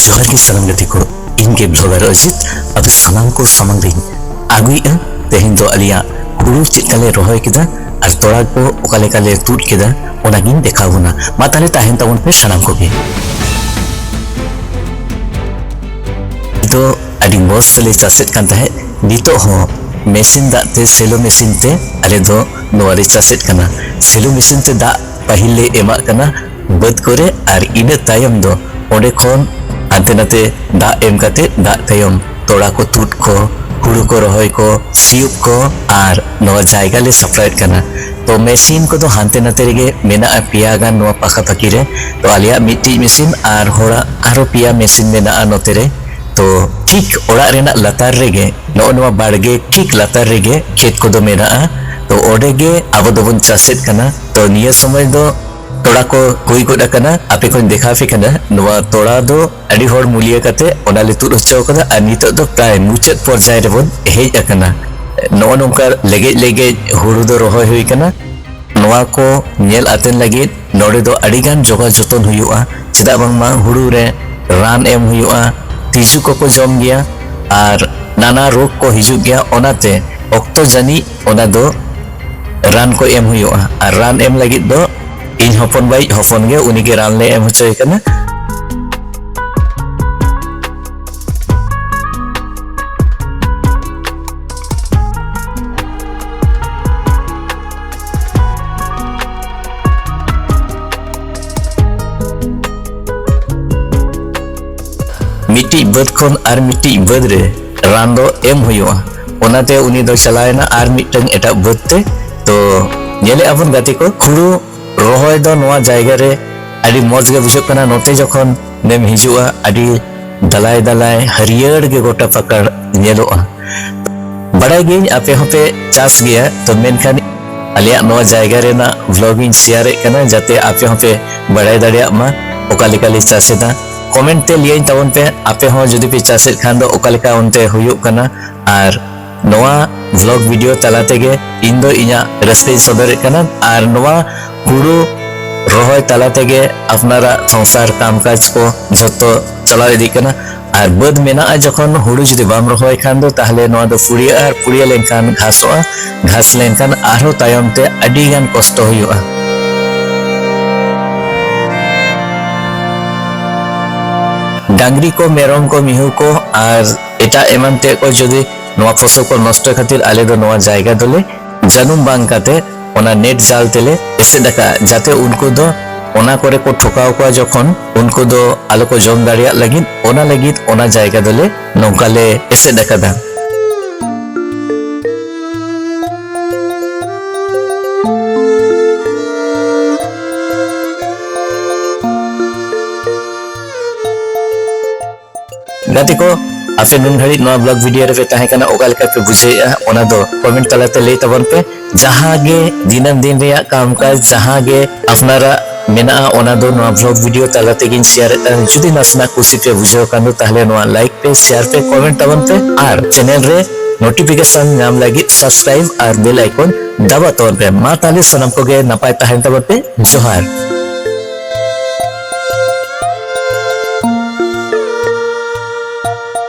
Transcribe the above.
ᱡᱚᱦᱟᱨ ᱜᱮ ᱥᱟᱱᱟᱢ ᱜᱟᱛᱮ ᱠᱚ ᱤᱧ ᱜᱮ ᱵᱷᱞᱚᱜᱟᱨ ᱚᱡᱤᱛ ᱟᱫᱚ ᱥᱟᱱᱟᱢ ᱠᱚ ᱥᱟᱢᱟᱝ ᱨᱤᱧ ᱟᱹᱜᱩᱭᱮᱫᱼᱟ ᱛᱮᱦᱮᱧ ᱫᱚ ᱟᱞᱮᱭᱟᱜ ᱦᱩᱲᱩ ᱪᱮᱫ ᱞᱮᱠᱟᱞᱮ ᱨᱚᱦᱚᱭ ᱠᱮᱫᱟ ᱟᱨ ᱛᱚᱲᱟ ᱠᱚ ᱚᱠᱟ ᱞᱮᱠᱟᱞᱮ ᱛᱩᱫ ᱠᱮᱫᱟ ᱚᱱᱟᱜᱤᱧ ᱫᱮᱠᱷᱟᱣ ᱵᱚᱱᱟ ᱢᱟ ᱛᱟᱦᱞᱮ ᱛᱟᱦᱮᱱ ᱛᱟᱵᱚᱱ ᱯᱮ ᱥᱟᱱᱟᱢ ᱠᱚᱜᱮ ᱫᱚ ᱟᱹᱰᱤ ᱢᱚᱡᱽ ᱛᱮᱞᱮ ᱪᱟᱥᱮᱫ ᱠᱟᱱ ᱛᱟᱦᱮᱸᱫ ᱱᱤᱛᱚᱜ ᱦᱚᱸ ᱢᱮᱥᱤᱱ ᱫᱟᱜ ᱛᱮ ᱥᱮᱞᱳ ᱢᱮᱥᱤᱱ ᱛᱮ ᱟᱞᱮ ᱫᱚ ᱱᱚᱣᱟ ᱞᱮ ᱪᱟᱥᱮᱫ ᱠᱟᱱᱟ ᱥᱮᱞᱳ ᱢᱮᱥᱤᱱ ᱛᱮ ᱫᱟᱜ ᱯᱟᱹᱦᱤᱞ ᱞᱮ ᱮᱢᱟᱜ ᱠᱟᱱᱟ ᱵᱟᱹᱫᱽ ᱠᱚᱨᱮ ᱟᱨ ᱤᱱᱟᱹ ᱛᱟᱭᱚᱢ ᱫᱚ ᱚᱸᱰᱮ ᱠᱷᱚᱱ ᱦᱟᱱᱛᱮ ᱱᱟᱛᱮ ᱫᱟᱜ ᱮᱢ ᱠᱟᱛᱮ ᱫᱟᱜ ᱛᱟᱭᱚᱢ ᱛᱚᱲᱟ ᱠᱚ ᱛᱩᱫ ᱠᱚ ᱦᱩᱲᱩ ᱠᱚ ᱨᱚᱦᱚᱭ ᱠᱚ ᱥᱤᱭᱳᱜ ᱠᱚ ᱟᱨ ᱱᱚᱣᱟ ᱡᱟᱭᱜᱟ ᱞᱮ ᱥᱟᱯᱲᱟᱣᱮᱫ ᱠᱟᱱᱟ ᱛᱚ ᱢᱮᱥᱤᱱ ᱠᱚᱫᱚ ᱦᱟᱱᱛᱮ ᱱᱟᱛᱮ ᱨᱮᱜᱮ ᱢᱮᱱᱟᱜᱼᱟ ᱯᱮᱭᱟ ᱜᱟᱱ ᱱᱚᱣᱟ ᱯᱟᱠᱟᱯᱟᱠᱤ ᱨᱮ ᱛᱚ ᱟᱞᱮᱭᱟᱜ ᱢᱤᱫᱴᱤᱡ ᱢᱮᱥᱤᱱ ᱟᱨ ᱦᱚᱲᱟᱜ ᱟᱨᱦᱚᱸ ᱯᱮᱭᱟ ᱢᱮᱥᱤᱱ ᱢᱮᱱᱟᱜᱼᱟ ᱱᱚᱛᱮ ᱨᱮ ᱛᱚ ᱴᱷᱤᱠ ᱚᱲᱟᱜ ᱨᱮᱱᱟᱜ ᱞᱟᱛᱟᱨ ᱨᱮᱜᱮ ᱱᱚᱜᱼᱚ ᱱᱚᱣᱟ ᱵᱟᱲᱜᱮ ᱴᱷᱤᱠ ᱞᱟᱛᱟᱨ ᱨᱮᱜᱮ ᱠᱷᱮᱛ ᱠᱚᱫᱚ ᱢᱮᱱᱟᱜᱼᱟ ᱛᱚ ᱚᱸᱰᱮ ᱜᱮ ᱟᱵᱚ ᱫᱚᱵᱚᱱ ᱪᱟᱥᱮᱫ ᱠᱟᱱᱟ ᱛᱚ ᱱᱤᱭᱟᱹ ᱥᱚᱢᱚᱭ ᱫᱚ ᱛᱚᱲᱟ ᱠᱚ ᱦᱩᱭ ᱜᱚᱫ ᱟᱠᱟᱱᱟ ᱟᱯᱮ ᱠᱚᱧ ᱫᱮᱠᱷᱟᱣ ᱯᱮ ᱠᱟᱱᱟ ᱱᱚᱣᱟ ᱛᱚᱲᱟ ᱫᱚ ᱟᱹᱰᱤ ᱦᱚᱲ ᱢᱩᱞᱤᱭᱟᱹ ᱠᱟᱛᱮ ᱚᱱᱟ ᱞᱮ ᱛᱩᱫ ᱦᱚᱪᱚ ᱟᱠᱟᱫᱟ ᱟᱨ ᱱᱤᱛᱚᱜ ᱫᱚ ᱯᱨᱟᱭ ᱢᱩᱪᱟᱹᱫ ᱯᱚᱨᱡᱟᱭ ᱨᱮᱵᱚᱱ ᱦᱮᱡ ᱟᱠᱟᱱᱟ ᱱᱚᱜᱼᱚ ᱱᱚᱝᱠᱟ ᱞᱮᱜᱮᱡ ᱞᱮᱜᱮᱡ ᱦᱩᱲᱩ ᱫᱚ ᱨᱚᱦᱚᱭ ᱦᱩᱭ ᱟᱠᱟᱱᱟ ᱱᱚᱣᱟ ᱠᱚ ᱧᱮᱞ ᱟᱛᱮᱱ ᱞᱟᱹᱜᱤᱫ ᱱᱚᱰᱮ ᱫᱚ ᱟᱹᱰᱤ ᱜᱟᱱ ᱡᱚᱜᱟᱣ ᱡᱚᱛᱚᱱ ᱦᱩᱭᱩᱜᱼᱟ ᱪᱮᱫᱟᱜ ᱵᱟᱝᱢᱟ ᱦᱩᱲᱩ ᱨᱮ ᱨᱟᱱ ᱮᱢ ᱦᱩᱭᱩᱜᱼᱟ ᱛᱤᱡᱩ ᱠᱚᱠᱚ ᱡᱚᱢ ᱜᱮᱭᱟ ᱟᱨ ᱱᱟᱱᱟ ᱨᱳᱜᱽ ᱠᱚ ᱦᱤᱡᱩᱜ ᱜᱮᱭᱟ ᱚᱱᱟᱛᱮ ᱚᱠᱛᱚ ᱡᱟᱹᱱᱤᱡ ᱚᱱᱟ ᱫᱚ ᱨᱟᱱ ᱠᱚ ᱮᱢ ᱦᱩᱭᱩᱜᱼᱟ ᱟᱨ ᱨᱟᱱ ᱮᱢ ᱞᱟᱹᱜᱤᱫ ᱫᱚ ᱤᱧ ᱦᱚᱯᱚᱱ ᱵᱟᱭᱤᱡ ᱦᱚᱯᱚᱱ ᱜᱮ ᱩᱱᱤ ᱜᱮ ᱨᱟᱱ ᱞᱮ ᱮᱢ ᱦᱚᱪᱚᱭ ᱠᱟᱱᱟ ᱢᱤᱫᱴᱤᱡ ᱵᱟᱹᱫᱽ ᱠᱷᱚᱱ ᱟᱨ ᱢᱤᱫᱴᱤᱡ ᱵᱟᱹᱫᱽ ᱨᱮ ᱨᱟᱱ ᱫᱚ ᱮᱢ ᱦᱩᱭᱩᱜᱼᱟ ᱚᱱᱟᱛᱮ ᱩᱱᱤ ᱫᱚ ᱪᱟᱞᱟᱣᱮᱱᱟ ᱟᱨ ᱢᱤᱫᱴᱟᱝ ᱮᱴᱟᱜ ᱵᱟᱹᱫᱽ ᱛᱮ ᱛᱚ ᱧᱮᱞᱮᱜᱼᱟ ᱵᱚᱱ ᱜᱟᱛᱮ ᱠᱚ ᱦᱩᱲᱩ ᱨᱚᱦᱚᱭ ᱫᱚ ᱱᱚᱣᱟ ᱡᱟᱭᱜᱟ ᱨᱮ ᱟᱹᱰᱤ ᱢᱚᱡᱽ ᱜᱮ ᱵᱩᱡᱷᱟᱹᱜ ᱠᱟᱱᱟ ᱱᱚᱛᱮ ᱡᱚᱠᱷᱚᱱ ᱱᱮᱢ ᱦᱤᱡᱩᱜᱼᱟ ᱟᱹᱰᱤ ᱫᱟᱞᱟᱭ ᱫᱟᱞᱟᱭ ᱦᱟᱹᱨᱭᱟᱹᱲ ᱜᱮ ᱜᱚᱴᱟ ᱯᱟᱠᱟᱲ ᱧᱮᱞᱚᱜᱼᱟ ᱵᱟᱲᱟᱭ ᱜᱤᱭᱟᱹᱧ ᱟᱯᱮ ᱦᱚᱸᱯᱮ ᱪᱟᱥ ᱜᱮᱭᱟ ᱛᱚ ᱢᱮᱱᱠᱷᱟᱱ ᱟᱞᱮᱭᱟᱜ ᱱᱚᱣᱟ ᱡᱟᱭᱜᱟ ᱨᱮᱱᱟᱜ ᱵᱞᱚᱜ ᱤᱧ ᱥᱮᱭᱟᱨᱮᱫ ᱠᱟᱱᱟ ᱡᱟᱛᱮ ᱟᱯᱮ ᱦᱚᱸᱯᱮ ᱵᱟᱲᱟᱭ ᱫᱟᱲᱮᱭᱟᱜ ᱢᱟ ᱚᱠᱟ ᱞᱮᱠᱟ ᱞᱮ ᱪᱟᱥ ᱮᱫᱟ ᱠᱚᱢᱮᱱᱴ ᱛᱮ ᱞᱟᱹᱭᱟᱹᱧ ᱛᱟᱵᱚᱱ ᱯᱮ ᱟᱯᱮ ᱦᱚᱸ ᱡᱩᱫᱤ ᱯᱮ ᱪᱟᱥᱮᱫ ᱠᱷᱟᱱ ᱫᱚ ᱚᱠᱟ ᱞᱮᱠᱟ ᱚᱱᱛᱮ ᱦᱩᱭᱩᱜ ᱠᱟᱱᱟ ᱟᱨ ᱱᱚᱣᱟ ᱵᱷᱞᱚᱜ ᱵᱷᱤᱰᱤᱭᱳ ᱛᱟᱞᱟ ᱛᱮᱜᱮ ᱤᱧ ᱫᱚ ᱤᱧᱟᱹᱜ ᱨᱟᱹᱥᱠᱟᱹᱧ ᱥᱚᱫᱚᱨᱮᱫ ᱠᱟᱱᱟ ᱟᱨ ᱱᱚᱣᱟ ᱦᱩᱲᱩ ᱨᱚᱦᱚᱭ ᱛᱟᱞᱟ ᱛᱮᱜᱮ ᱟᱯᱱᱟᱨᱟᱜ ᱥᱚᱝᱥᱟᱨ ᱠᱟᱢᱠᱟᱡᱽ ᱠᱚ ᱡᱷᱚᱛᱚ ᱪᱟᱞᱟᱣ ᱤᱫᱤᱜ ᱠᱟᱱᱟ ᱟᱨ ᱵᱟᱹᱫᱽ ᱢᱮᱱᱟᱜᱼᱟ ᱡᱚᱠᱷᱚᱱ ᱦᱩᱲᱩ ᱡᱩᱫᱤ ᱵᱟᱢ ᱨᱚᱦᱚᱭ ᱠᱷᱟᱱ ᱫᱚ ᱛᱟᱦᱞᱮ ᱱᱚᱣᱟ ᱫᱚ ᱯᱩᱲᱤᱭᱟᱹᱜᱼᱟ ᱟᱨ ᱯᱩᱲᱤᱭᱟᱹ ᱞᱮᱱᱠᱷᱟᱱ ᱜᱷᱟᱥᱚᱜᱼᱟ ᱜᱷᱟᱥ ᱞᱮᱱᱠᱷᱟᱱ ᱟᱨᱦᱚᱸ ᱛᱟᱭᱚᱢ ᱛᱮ ᱟᱹᱰᱤ ᱜᱟᱱ ᱠᱚᱥᱴᱚ ᱦᱩᱭᱩᱜᱼᱟ ᱰᱟᱝᱨᱤ ᱠᱚ ᱢᱮᱨᱚᱢ ᱠᱚ ᱢᱤᱦᱩ ᱠᱚ ᱟᱨ ᱮᱴᱟᱜ ᱮᱢᱟᱱ ᱛᱮ ᱠᱚ ᱡᱩᱫᱤ ᱱᱚᱣᱟ ᱯᱷᱚᱥᱚᱞ ᱠᱚ ᱱᱚᱥᱴᱚ ᱠᱷᱟᱹᱛᱤᱨ ᱟᱞᱮ ᱫᱚ ᱱᱚᱣᱟ ᱡᱟᱭᱜᱟ ᱫᱚᱞᱮ ᱡᱟᱹᱱᱩᱢ ᱵᱟᱝ ᱠᱟᱛᱮ ᱚᱱᱟ ᱱᱮᱴ ᱡᱟᱞ ᱛᱮᱞᱮ ᱮᱥᱮᱫ ᱟᱠᱟᱫᱼᱟ ᱡᱟᱛᱮ ᱩᱱᱠᱩ ᱫᱚ ᱚᱱᱟ ᱠᱚᱨᱮ ᱠᱚ ᱴᱷᱚᱠᱟᱣ ᱠᱚᱣᱟ ᱡᱚᱠᱷᱚᱱ ᱩᱱᱠᱩ ᱫᱚ ᱟᱞᱚ ᱠᱚ ᱡᱚᱢ ᱫᱟᱲᱮᱭᱟᱜ ᱞᱟᱹᱜᱤᱫ ᱚᱱᱟ ᱞᱟᱹᱜᱤᱫ ᱚᱱᱟ ᱡᱟᱭᱜᱟ ᱫᱚᱞᱮ ᱱᱚᱝᱠᱟ ᱞᱮ ᱮᱥᱮᱫ ᱟᱠᱟᱫᱟ ᱜᱟᱛᱮ ᱠᱚ ᱟᱯᱮ ᱱᱩᱱ ᱜᱷᱟᱹᱲᱤᱡ ᱱᱚᱣᱟ ᱵᱞᱚᱜ ᱵᱷᱤᱰᱤᱭᱳ ᱨᱮᱯᱮ ᱛᱟᱦᱮᱸ ᱠᱟᱱᱟ ᱚᱠᱟ ᱞᱮᱠᱟ ᱯᱮ ᱵᱩᱡᱷᱟᱹᱣᱮᱫᱼᱟ ᱚᱱᱟ ᱫᱚ ᱠᱚᱢᱮᱱᱴ ᱛᱟᱞᱟᱛᱮ ᱞᱟᱹᱭ ᱛᱟᱵᱚᱱ ᱯᱮ ᱡᱟᱦᱟᱸ ᱜᱮ ᱫᱤᱱᱟᱹᱢ ᱫᱤᱱ ᱨᱮᱭᱟᱜ ᱠᱟᱢᱠᱟᱡᱽ ᱡᱟᱦᱟᱸ ᱜᱮ ᱟᱯᱱᱟᱨᱟᱜ ᱢᱮᱱᱟᱜᱼᱟ ᱚᱱᱟ ᱫᱚ ᱱᱚᱣᱟ ᱵᱷᱞᱚᱜ ᱵᱷᱤᱰᱤᱭᱳ ᱛᱟᱞᱟ ᱛᱮᱜᱤᱧ ᱥᱮᱭᱟᱨᱮᱫ ᱠᱟᱱᱟ ᱡᱩᱫᱤ ᱱᱟᱥᱮᱱᱟᱜ ᱠᱩᱥᱤ ᱯᱮ ᱵᱩᱡᱷᱟᱹᱣ ᱠᱷᱟᱱ ᱫᱚ ᱛᱟᱦᱞᱮ ᱱᱚᱣᱟ ᱞᱟᱭᱤᱠ ᱯᱮ ᱥᱮᱭᱟᱨ ᱯᱮ ᱠᱚᱢᱮᱱᱴ ᱛᱟᱵᱚᱱ ᱯᱮ ᱟᱨ ᱪᱮᱱᱮᱞ ᱨᱮ ᱱᱳᱴᱤᱯᱷᱤᱠᱮᱥᱚᱱ ᱧᱟᱢ ᱞᱟᱹᱜᱤᱫ ᱥᱟᱵᱥᱠᱨᱟᱭᱤᱵ ᱟᱨ ᱵᱮᱞ ᱟᱭᱠᱚᱱ ᱫᱟᱵᱟ ᱛᱟᱵᱚᱱ ᱯᱮ ᱢᱟ ᱛᱟᱦᱞᱮ ᱥᱟᱱᱟᱢ ᱠᱚᱜᱮ ᱱᱟᱯᱟᱭ ᱛᱟᱦᱮᱱ ᱛᱟᱵᱚᱱ ᱯᱮ ᱡᱚᱦᱟᱨ